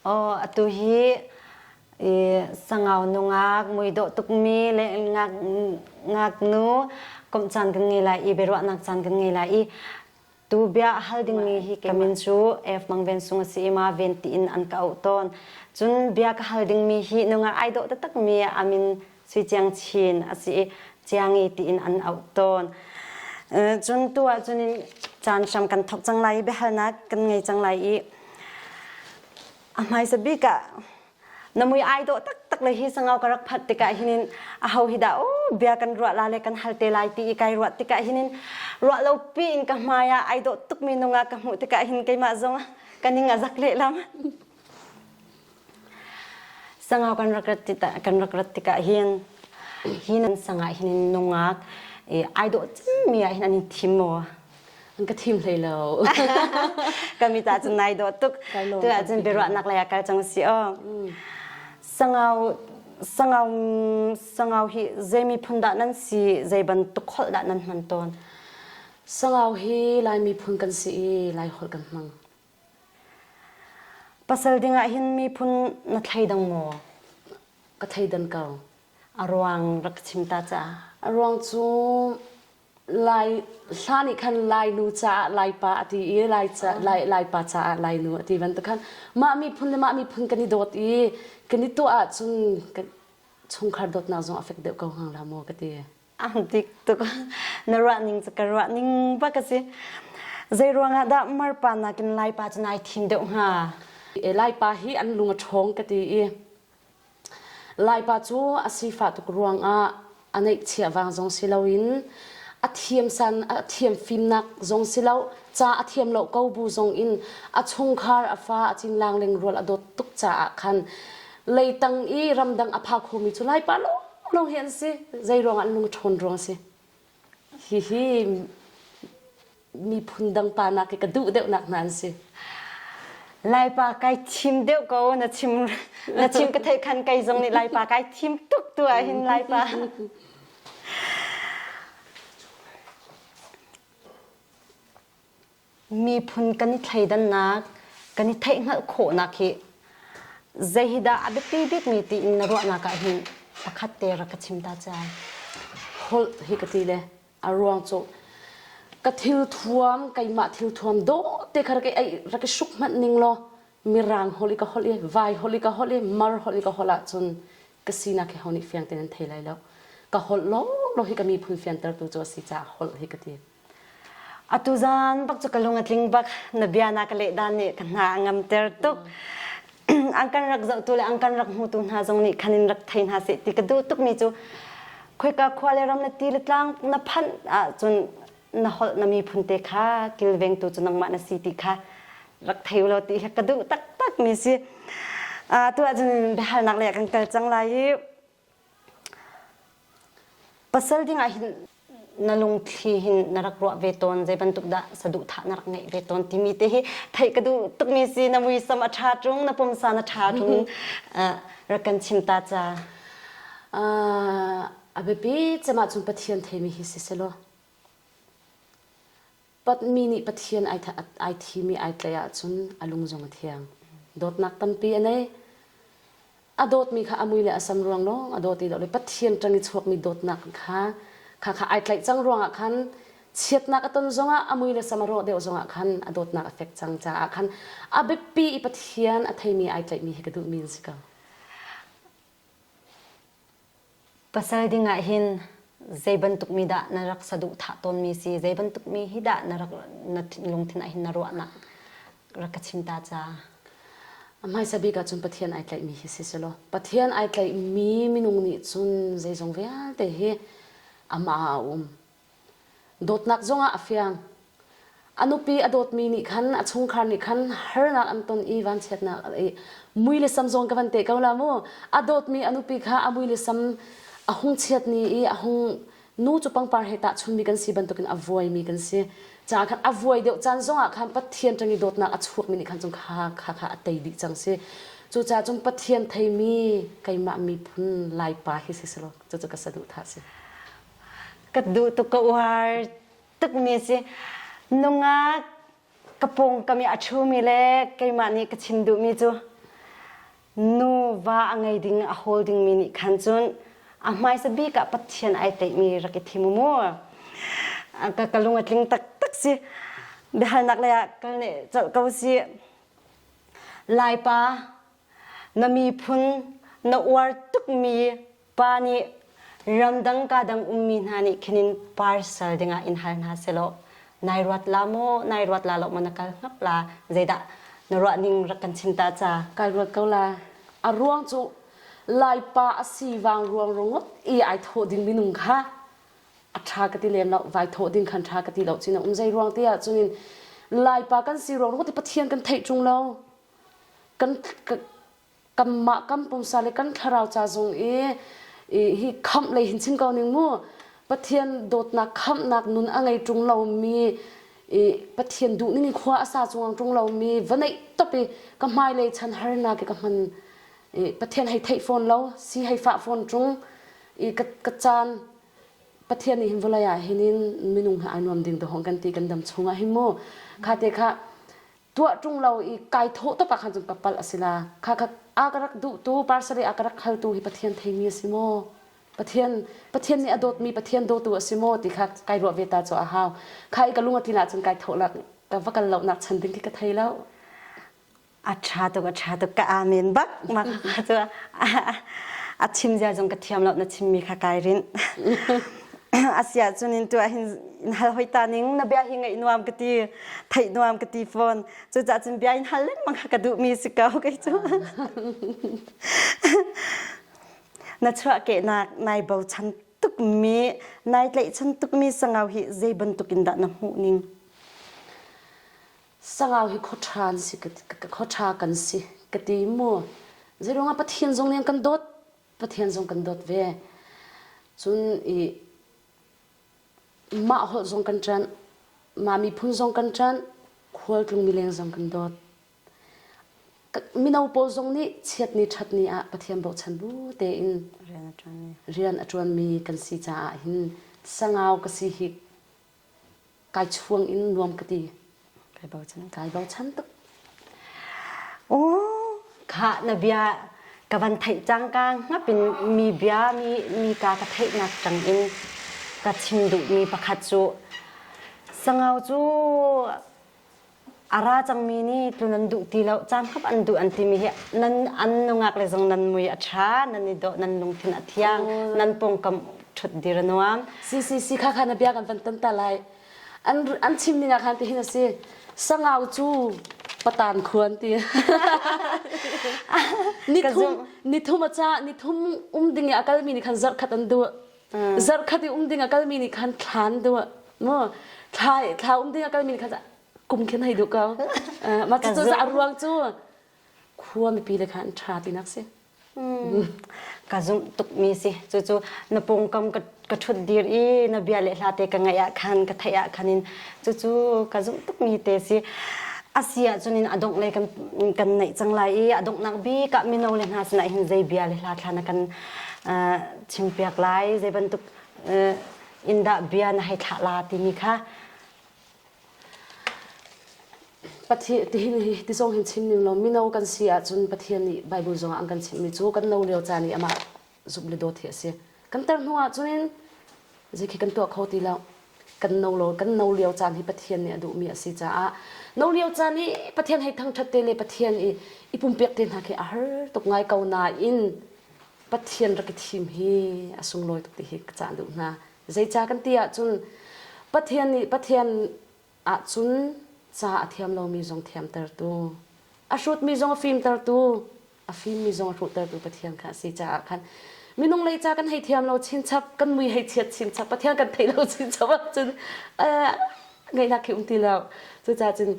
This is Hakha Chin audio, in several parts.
Atu hi sangau nungak muidawh tukmi le ngaknu komh caan ka ngei lai i biaruahnak caan ka ngei lai i tu bia hal dingmi hi kemin cu F Mang Ven Sung a si i ma ven tiin an ka auh tawn. Cun bia ka hal dingmi hi nungak ai dawh taktakmi amin Sui Ciang Chin a si i Ciangi tiin an auh tawn. Cun tu ah cun caan hram kan thawk cang lai i biahalnak kan ngei cang lai i a hmaisa bik ah na mui ai dawh taktak le hi sangau ka rak phat tikah hinin a ho hi dah o bia kan ruah la le kan hal te lai ti i kai ruah tikah hinin ruah lo pi in ka hmai ah ai dawh tuk mi nung ah ka hmuh tikah hin keimah zong ka ning a zak lehlam. Sangau kan rak rat tikah kan rak rat tikah hin hi nan sangah hin nungak i ai dawh cemmi ah hin an in thim maw? An ka thim hlei lo. Kami ta cun nai dawh tuk. Tu ah cun biaruahnak lei ah kal cang si aw. Sangau sangau sangau hi zei miphun dah nan si zei bantuk holh dah nan hman tawn? Sangau hi Lai miphun kan si i Lai holh kan hmang. Pasal dingah hin miphun na thleidang maw? Ka theidan ko. A ruang rak ka chim ta ca. A ruang cu lai hla nih khan lainu caah laipa a ti i laica lai laipa caah lainu a ti bantukan mah miphun le mah miphun kan i dawt i kan i tuah ahcun kan chungkhar dawtnak zong a fek deuh ko hang la maw ka ti. ang dik tuk na ruah ning cu ka ruah ning ba ka si zei ruangah dah mar pa nakin lai pa cu nai thim deuh hnga e lai pa hi an lung a ṭhawng ka ti i lai pa cu a sifah tuk ruangah a neihchia vang zong si loin a thiam san a thiam fimnak zong si lo ca a thiam lo ko bu zong in a chungkhar a fa a cin lang leng rual a dawt tuk caah khan leitang i ramdang a pha khomi cu laipa lawng hi an si zei ruangah an lung ṭhawn ruang a si hihi miphun dang pa nak i ka duh deuhnak hna an si laipa kai thim deuh ko na chim na chim ka thei khan kai zong nih laipa kai thim tuk tu ah hin laipa miphun kan i thleidannak kan i theihhngalh khawhnak hi zei hi dah a biapi bikmi tiin na ruahnak ah hin pakhat te rak ka chim ta cai holh hi ka ti le a ruang cu ka thil thuam keimah thil thuam do te kha rak i rak i hruk hmanh ning law mirang holh i ka holh i vai holh i ka holh i mar holh i ka holh ahcun ka sinak hi honi fiang tein an thei lai lo ka holh lawlaw hi ka miphun fiantertu cu a si caah holh hi ka ti Atu zan bak cu ka lung a tling bak. Na bia na ka lehdan nih ka hna a ngamter tuk. an kan rak zohtu le an kan rak hmutu hna zong nih khan in rak thei hna seh ti ka duh tukmi cu khoika khua le ram le ti le tlang na phanh ahcun na holh na miphun te kha kilvengtu cu nangmah na si ti kha rak thei u law ti ka duh taktakmi si. atu ahcun biahalnak lei a kan kal cang lai i Pasal ding ah hin na lungthli hin na rak ruah ve tawn zei bantuk dah saduhthah na rak ngeih ve tawn timi te hi theih ka duh tukmi si na muisam a ṭha ṭung na pumsa na ṭha ṭung rak kan chim ta ca. A biapi cem ahcun Pathian theimi hi si selaw Patmi nih Pathian ai thimi ai tlaih ahcun a lung zong a thiang. Dawtnak tampi a nei. A dawtmi kha a mui le a sam ruang lawng a dawt i dawt le Pathian ṭang i chuakmi dawtnak kha kha kha ai tlaih cang ruangah khan chiatnak a ton zongah a mui le sam a rawh deuh zongah khan a dawtnak a fek cang caah khan a biapi i Pathian a theimi ai tlaihmi hi ka duhmi an si ko. Pasal dingah hin zei bantuk mi dah na rak saduhthah tawnmi si, zei bantuk mi hi dah na rak na lungthin ah hin na ruahnak rak ka chim ta ca. A hmaisa bik ah cun Pathian ai tlaihmi hi si selaw, Pathian ai tlaihmi minung nih cun zeizong vialte hi amah ah a um. Dawtnak zongah a fiang. A nupi a dawtmi nih khan a chungkhar nih khan harnak an ton i vanchiatnak a i mui le sam zong ka van teh ko la mu. A dawtmi a nupi kha a mui le sam a hung chiat ni i a hung nu cu pangpar he tahchunmi kan si bantukin a vuaimi kan si. Caah khan a vuai deuh caan zongah khan Pathian ṭang i dawtnak a chuakmi nih khan cun kha kha kha a tei dih cang si. Cucaah cun Pathian theimi keimah miphun Laipa hi si selaw cucu ka saduhthah a si. ka duh tuk ka uar tukmi si nungak ka pawngkam i a ṭhumi le keimah nih ka chim duhmi cu nuva a ngei ding a hawl dingmi nih khan cun a hmaisa bik ah Pathian ai teihmi rak i thim mu ka ka lung a tling taktak si biahalnak lei ah kal ne colh ko si laipa na miphun na uar tukmi pa nih ramdang kadang ummi hna nih khinin parcel dingah in hal hna selaw nai ruat la maw nai ruat la lo maw na kal ngap la zeidah na ruah ning rak kan chinta ca kal ruat ko la a ruang cu laipa asi wang ruang rungut i ai tho ding minung kha a tha ka ti lem lo vai tho ding khan tha ka ti lo chin um zai ruang te ah chunin laipa kan si ruang rungut i pathian kan thei chung lo kan kanmah kan pumsa le kan thlarau ca zung i hi khamh lei hin chim ko ning mu pathian dawtnak khamhnak nun a ngei ṭung lomi i pathian duhning khua a sa chung ṭung lomi va neih top i ka hmailei chan harnak i ka hman i pathian hei theih fawn lo si hei fah fawn ṭung i ka, ka caan pathian nih hin vawlei ah hin in minung hi ai nuam ding dawhong kan ti kan dam chungah hin mu kha te kha tuah ṭung lo i kai thawh tuk ahkhan cun ka palh a si la. Kha kha a ka rak duhtu, Parsarih a ka rak haltu hi Pathian theimi a si maw? Pathian, Pathian nih a dawtmi Pathian dawtu a si maw ti kha kai ruah ve ta cu a hau. Kha i ka lung a tlin ahcun kai thawhnak, ka va kal lonak chan ding khi ka thei lo. A ṭha tuk, a ṭha tuk, ka amen bak mak cu a chim zia zong ka thiam lo, na chimmi kha kai rinh. asia cun in tuah hin in hal hoi ta ning na bia hi ngaih nuam ka ti theih nuam ka ti phone cucah cun bia in hal lengmang ha ka duh mi si ka kei cu na chuah ke nak nai bo chan tuk mi nai tlei chan tuk mi sangau hi zei bantuk in dah na hmu ning sangau hi khothan si ka khotha kan si ka ti mu zerong a pathin zong ning kan dot Pathian zong kan dawt ve. Cun i mah holh zong kan ṭanh, mah miphun zong kan ṭanh, khualtlung mileng zong kan dawt. Mino pawl zong nih chiatni ṭhatni ah Pathian bochan bu tein rian a ṭuanmi kan si caah hin sangau ka si hi kai chuang in nuam ka ti kai bochan kai bochan tuk oh kha na bia ka van theih cang ka ngap in mi bia mi mi ka ka theih nak tang in ka chim duh mi pakhat cu sangau cu a ra cangmi nih tlun an duh ti lo caan khat an duh an timi hi nan an nungak le zong nan mui a ṭha nan i dawh nan lungthin a thiang nan pawngkam ṭhut dir a nuam CCC kha khan a bia kan van tan ta lai an an chimning ah khan tihin a si sangau cu patan khuan ti nithum nithum a ca nithum um ding i a kalmi nih khan zarh khat an duh zarhkhat i um ding a kalmi nih khan thlan deuh mu thla thla um ding a kalmi nih khan kum khin hei duh ko mah cu cu a ruang cu khua mipi le khan tha tinak si ka zumh tukmi si cucu na pawngkam ka ka thut dir i na bia le hla te ka ngaih ah khan ka theih ah khan in cucu ka zumh tukmi te si asi ah cun in adong le kan kan neih cang lai i adongnak bi ka mino le hna sinah hin zei bia le hla thla na kan chim piak lai zei bantuk in dah bia na hei thlah la timi kha Pathian ti ni ti zong hin chim ning lo mino kan si ahcun Pathian nih Bible zong an kan chimhmi cu kan no lio caan i amah zumh le dawt hi a si kan tar hnu ahcun in zei khi kan tuah kho ti lo kan no lo kan no lio caan hi Pathian nih a duhmi a si caah no lio caan i Pathian hei thangthat te le Pathian i i pumpiak te hna khi a har tuk ngai ko nain Pathian rak i thim hi a sunglawi tuk ti hi ka cah duh hna. Zeicah kan ti ahcun Pathian nih Pathian ahcun ca a thiam lomi zong thiamtertu, a hrutmi zong a fimtertu, a fimmi zong a hruhtertu Pathian kha a si caah khan minung lei ca kan hei thiam lo chinchap, kan mui hei chiat chinchap, Pathian kan theih lo chinchap ahcun ngaihnak khi um ti lo cucaah cun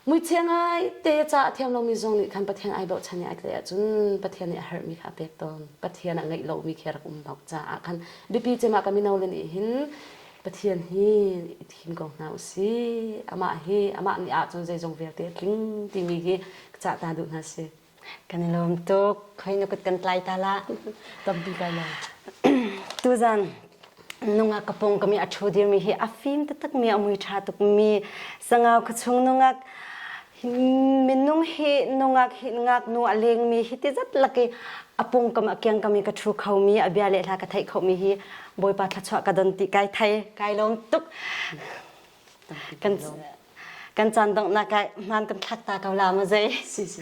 muichia ngai te ca a thiam lomi zong nih khan pathian ai bochan i ai tlai ahcun pathian nih a harmi kha a pek tawn pathian a ngeih lomi khi a rak um bak caah khan biapi cemah ka mino le nih hin pathian hi i thim ko hna usih amah hi amah nih ah cun zeizong vialte a tling timi hi ka cah ta duh hna si Kan i lawm tuk. Hoi nu kut kan tlai ta la. Tampi kai lo. Tuzan nungak kapong kami athu dirmi hi a fim tatak mi a mui tha tuk mi sangau khachung nungak minung hi nungak hi ngak nu a leng mi hi ti zat laki apung kam akiang kami ka thu kho mi abia le hla ka thai kho mi hi boipa thlachwa ka don ti kai thai kai lom tuk kan kan chan dong na kai man kan thak ta ko la ma zai si si